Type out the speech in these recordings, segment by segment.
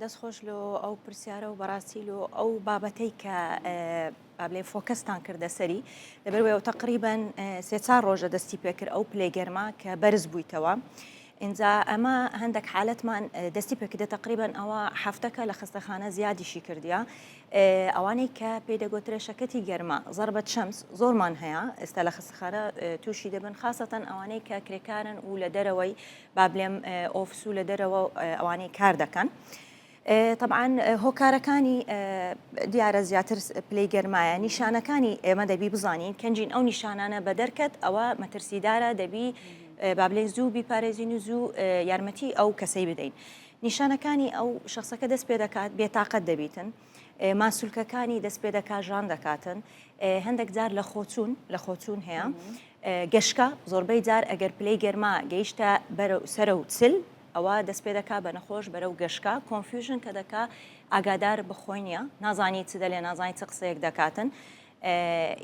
دەست خۆش لۆ ئەو پرسیارە و بەڕاستی لۆ ئەو بابەتەی کە بابلێ فۆکەستان کردە سەری لەبەر وێ تقریبان سێ چار ڕۆژە دەستی پێکرد ئەو پلێ گەرما کە بەرز بوویتەوە. ئینجا ئەمە هەندێک حالەتمان دەستی پێکردە تقریبان ئەوە هەفتەکە لە خستەخانە زیادیشی کردیا ئەوانەی کە پێی دەگوترێ شەکەتی گەرما زربەت شەمس زۆرمان هەیە ئێستا لە خستخانە تووشی دەبن خاستەن ئەوانەی کە کرێکارن و لە دەرەوەی با بلێم ئۆفس و لە دەرەوە ئەوانەی کار دەکەن. طبعاان هۆکارەکانی دیارە زیاتر پلەی گەرمایە نیشانەکانی ئێمە دەبی بزانین کەنجین ئەو نیشانانە بە دەرکەت ئەوە مەترسیدارە دەبی بابلێن زوو بیپارێزین و زوو یارمەتی ئەو کەسەی بدەین. نیشانەکانی ئەو شخصەکە دەست پێ دەکات بێتاقەت دەبیتن ماسولکەکانی دەست پێ دەکات ژان دەکاتن هەندێک جار لە خۆچوون لە خۆچوون هەیە گەشکە زۆربەی جار ئەگەر پلەی گەرما گەیشتە بەرە سرە و چل ئەوە دەست پێ دەکا بە نەخۆش بەرە و گەشکە کۆنفیوژن کە دەکا ئاگادار بخۆی نیە نازانی چ دەلێ نازانی چ قسەیەک دەکاتن.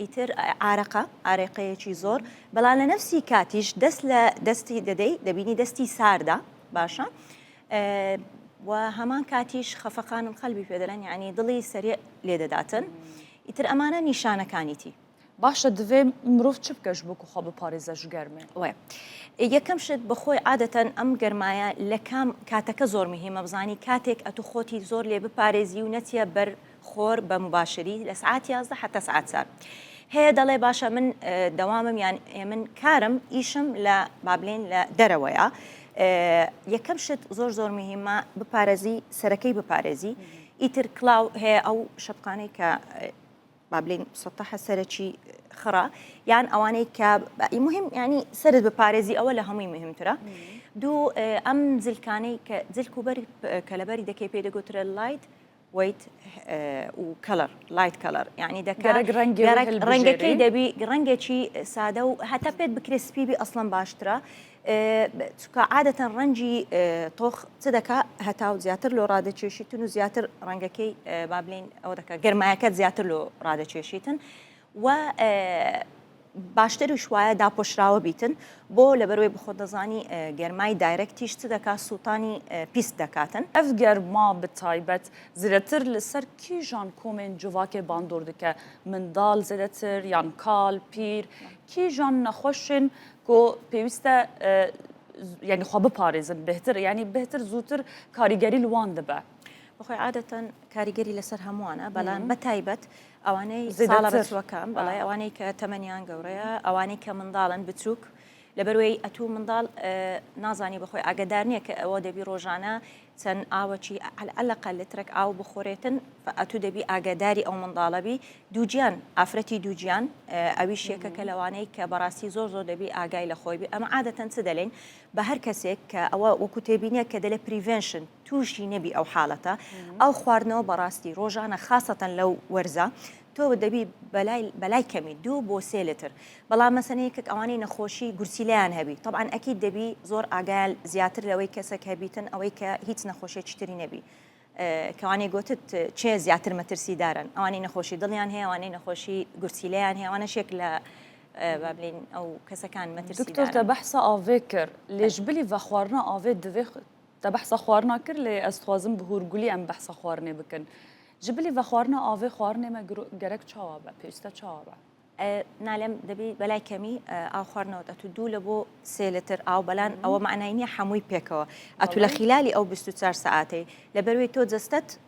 ئیتر ئارەقە ئارێقەیەکی زۆر بەڵام لە نەفسی کاتیش دەست لە دەستی دەدەی دەبینی دەستی ساردا باشە و هەمان کاتیش خەفەقانن قەلبی پێ دەلەن یعنی دڵی سەرێ لێ دەداتن ئیتر ئەمانە نیشانەکانیتی باشە دەێ مرۆڤ چ بکەش بکو خۆ بپارێزە ژگەرمێ وێ یەکەم شت بەخۆی عادەتەن ئەم گەرمایە لە کام کاتەکە زۆر مهمە بزانی کاتێک ئەتو خۆتی زۆر لێ بپارێزی و نەچە بەر خۆر بە مباشری لە سعات یازدە حەتا سعات چار هەیە دەڵێ باشە من دەوامم یان من کارم ئیشم لە بابلین لە دەرەوەیە یەکەم شت زۆر زۆر مهمە بپارێزی سەرەکەی بپارێزی ئیتر کلااو هەیە ئەو شەپقانەی کە بابلین سەتەحە سەرەکی خڕە یان ئەوانەی کە مهم ینی سرت بپارێزی ئەوە لە هەمووی مهمترە دوو ئەم زلکانەی کە زلک و بەری کە لەبەری دەکەی پێ دەگوترە لایت وەیت و کەڵەر لایت کەڵەر یعنی دەکە ڕەنگەکەی دەبی ڕەنگێکی سادە و هەتا پێت بکرێ سپیبی ئەسڵم باشترە چکە عادەتەن ڕەنجی تۆخ چ دەکا هەتا و زیاتر لۆ ڕادەچێشیتن و زیاتر ڕەنگەکەی بابلین ئەوە دەکە گەرمایەکەت زیاتر لۆ ڕادەچێشیتن و باشتریش وایە داپۆشراوە بیتن بۆ لەبەروەی بخۆت دەزانی گەرمای دایرەکتیش چ دەکات سووتانی پیست دەکاتن. ئەڤ گەرما بە تایبەت زێدەتر لە سەر کیژان کۆمێن جڤاکێ باندۆر دکە، منداڵ زێدەتر یان کال، پیر، کیژان نەخوەشێن کۆ پێویستە یانی خوا بپارێزن بهتر یانی بهتر زووتر کاریگەریل وان دبە. بەخۆی عادەتەن کاریگەری لەسەر هەمووانە بەلام بە تایبەت ئەوانەی ساڵە بەچووەکان بەڵێ ئەوانەی کە تەمەنیان گەورەیە ئەوانەی کە منداڵن بچووک لەبەروەی ئەتوو منداڵ نازانی بەخۆی ئاگدار نییە کە ئەوە دەبی ڕۆژانە چەند ئاوەچی ئەلقە لترک ئاو بخۆرێتن ئەتوو دەبی ئاگداری ئەو منداڵەبی دووجیان ئافرەتی دووجیان ئەوی شێکە کە لەوانەی کە بەڕاستی زۆر زۆر دەبی ئاگای لە خۆی بێ ئەمە عادەتەن چ دەلین بە هەر کەسێک کە ئەوە وەکو تێبینە کە دەلێ پریڤێنشن توشی نەبی ئەو حالەتە ئەو خواردنەوە بەڕاستی ڕۆژانە خاستەن لەو وەرزە تۆ دەبی بەلای کەمی دوو بۆ سێ لتر بەڵام مەسەنەیەکێک ئەوانەی نەخۆشی گورچیلیان هەبی طبعاً ئەکی دەبی زۆر ئاگال زیاتر لەوەی کەسەک هەبیتن ئەوەی کە هیچ نەخۆشیێکی تری نەبی کەوانەی گوتت چێ زیاتر مەترسی دارن ئەوانەی نەخۆشی دڵیان هەیە ئەوانەی نەخۆشی گورچیلیان هەیە ئەوانەشێک لە بابلین ئەو کەسەکان مەترسی دکتۆر تە بەحسە ئاوێ کرد لێژ بلی ڤخواردنە ئاوێ دەێ تا بەحسا خوارنا کرد لێ ئەز خوازم بهور گولی ئەم بەحسا خوارنێ بکن جی بلی ڤە خوارنا ئاڤێ خوارنێ مە گەرەک چاوا بە پێویستە چاوا بە. نالێم دەبی بەلای کەمی ئاو خوارنەوەت ئەتو دوو لە بۆ سێ لتر ئاو بەلان ئەوە مەعنای نیە حەمووی پێکەوە ئەتو لە خیلالی ئەو بیست و چار سەعاتەی لەبەروەی تۆ جەستەت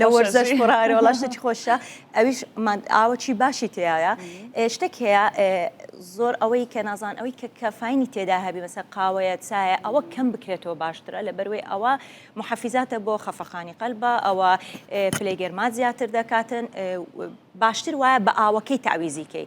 لە وەرزەش خڕارە وڵا شتێکی خۆشە ئەویش ئاوەکی باشی تێایە شتێک هەیە زۆر ئەوەی کە نازان ئەوەی کە کەفاینی تێدا هەبی مەسە قاوەیە چایە ئەوە کەم بکرێتەوە باشترە لە بەروێ ئەوە محەفیزاتە بۆ خەفەقانی قەلبە ئەوە پلەی گەرما زیاتر دەکاتن باشتر وایە بە ئاوەکەی تاویزیکەی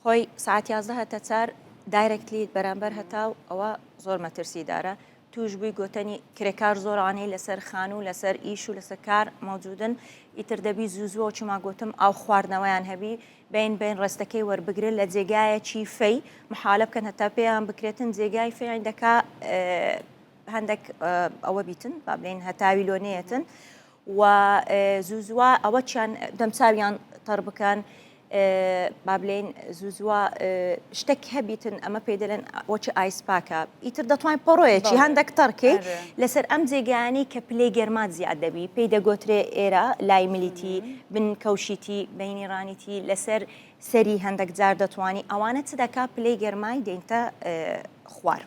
خۆی سەعات یازدە هەتە چار دایرەکتلی بەرامبەر هەتاو ئەوە زۆر مەترسی دارە توش بووی گۆتەنی کرێکار زۆرانەی لەسەر خان و لەسەر ئیش و لەسەر کار مەوجودن ئیتر دەبی زوزوە چما گوتم ئاو خواردنەوەیان هەبی بین بین ڕستەکەی وەربگرن لە جێگایەکی فەی محالە بکەن هەتا پێیان بکرێتن جێگای فیان دەکا هەندێک ئەوە بیتن با بلین هەتاوی لۆنەیەتن و زوو زووا ئەوە چیان دەمچویان تەڕ بکەن بابلین زوو زووا شتێک هەبیتن ئەمە پێ دەلێن وەچی ئایسپاکە ئیتر دەتوانین پەڕۆیەکی هەندێک تەڕکی لەسەر ئەم جێگانی کە پلەی گەرمات زیاد دەبی پێی دەگۆترێ ئێرە لای ملیتی بن کەوشیتی بینی ڕانیتی لەسەر سەری هەندێک جار دەتوانانی ئەوانە چ دەکا پلەی گەرمای دێنتە خوار.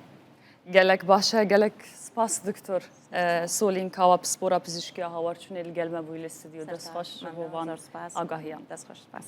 گەلەک باشە گەلەک سپاس دکتۆر. سۆلین کاوە پسپۆرە پزیشکیە هاوار چونێ لگەلمە بوی لە ستدیو دەست خۆش بۆ وان ئاگاهیان. دەست خۆش سپاس.